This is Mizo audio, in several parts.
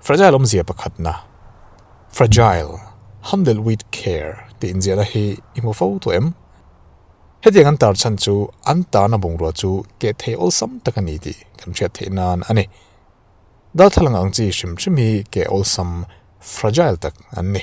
Fragile awmzia pakhatna, Fragile, handled with care tih inziahna hi i hmu fo tawh em? Hetiang an tar chhan chu an tarna bungrua chu keh thei awlsam tak a ni tih kan hriat theih nan a ni. Darthlalang ang chi hrim hrim hi keh awlsam, fragile, tak an ni.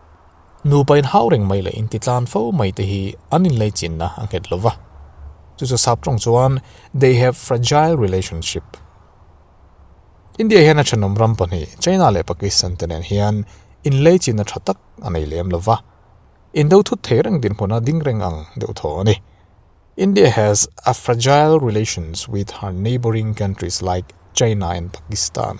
Nupa in hau reng mai leh in ti tlan fo mai te hi an inlei chinna a nghet lo va. Chu chu sap tawng chuan they have fragile relationship. India hian a thenawm ram pahnih China leh Pakistan te nen hian inlei chinna tha tak a nei lem lo va. Indo thut thei reng dinhmuna ding reng ang deuh thaw a ni. India has a fragile relations with her neighbouring countries like China and Pakistan.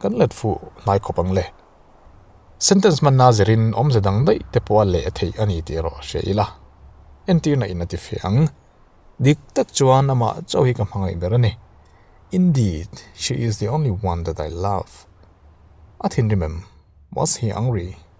Kan let fuh hnai khawp ang le. Sentence hmanna zirin awmze dang daih te pawha leh a theih a ni tih erawh a hria ila, entirna in a tifiah ang. Dik tak chuan amah chauh hi ka hmangaih ber a ni. Indeed, she is the only one that I love. A thinrim em? Was he angry?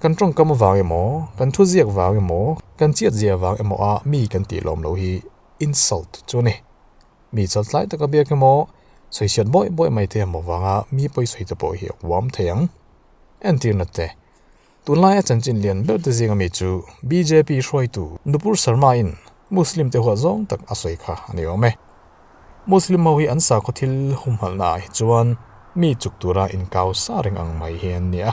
Kan tawngkam avang emaw, kan thu ziak vang emaw, kan chiat zia vang emaw a mi kan tih lawm lo hi insult chu a ni. Mi chaltlai taka biak emaw, chawihriat bawih bawih mai te emaw vanga mi pawi sawi te pawh hi a huam thei ang. Entirna te, tunlaia chanchin lian ber te zinga mi chu bjp hruaitu Nupur Sarmain Muslim te huat zawng tak a sawi kha a ni awm e. Muslim ho hi an sakhaw thil humhalhna ah hi chuan mi chuk tura inkau sa reng ang mai hi an ni a,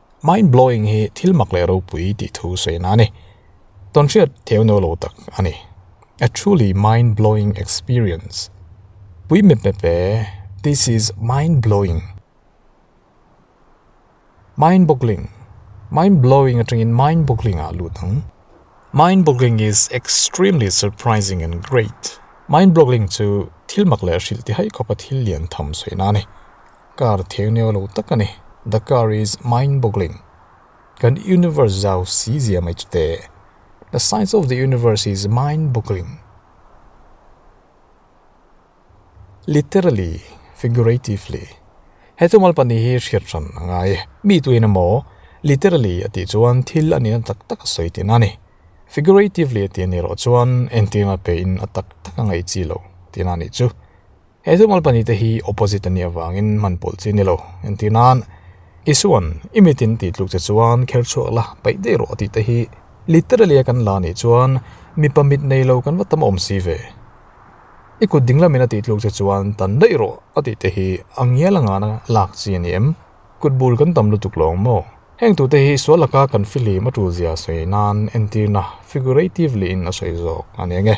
Mind blowing hi thil mak leh ropui tih thu sawi na a ni. Tawn hriat theu no lo tak a ni. A truly mind blowing experience. Pui mep mep e, this is mind blowing. Mind boggling, mind blowing atangin mind boggling ah lut ang. Mind boggling is extremely surprising and great. Mind boggling chu thil mak leh hrilh ti hai khawpa thil lian tham sawi na a ni. Car theng neo lo tak a ni. The car is mind boggling. Kan universe zau si zia mai chu te. The science of the universe is mind boggling. Literally, figuratively. He chu malpa ni hi hriat hran a ngai. Mi tuin emaw, literally a tih chuan thil a nihna tak tak a sawi tih na a ni. Figuratively a tih a nih erawh chuan engtin a pe in a tak tak a ngaih chi lo tih na a nih chu. He thil malpahnih te hi opposite a nih avangin hman pawlh chi ni lo. Entir nan, Isuan i mitin tih tluk che chuan kher chhuak la, peih daih rawh a tih te hi literally a kan la nih chuan mipa mitnei lo kan va tam awm si ve. I kut ding lamin a tih tluk che chuan tan daih rawh a tih te hi a ngial anga a lak chi a ni em? Kut bul kan tam lutuk lawng maw? Heng tute hi sual laka kan fihlim a tul zia sawi nan entirna figuratively-in a sawi zawk a ni ang e.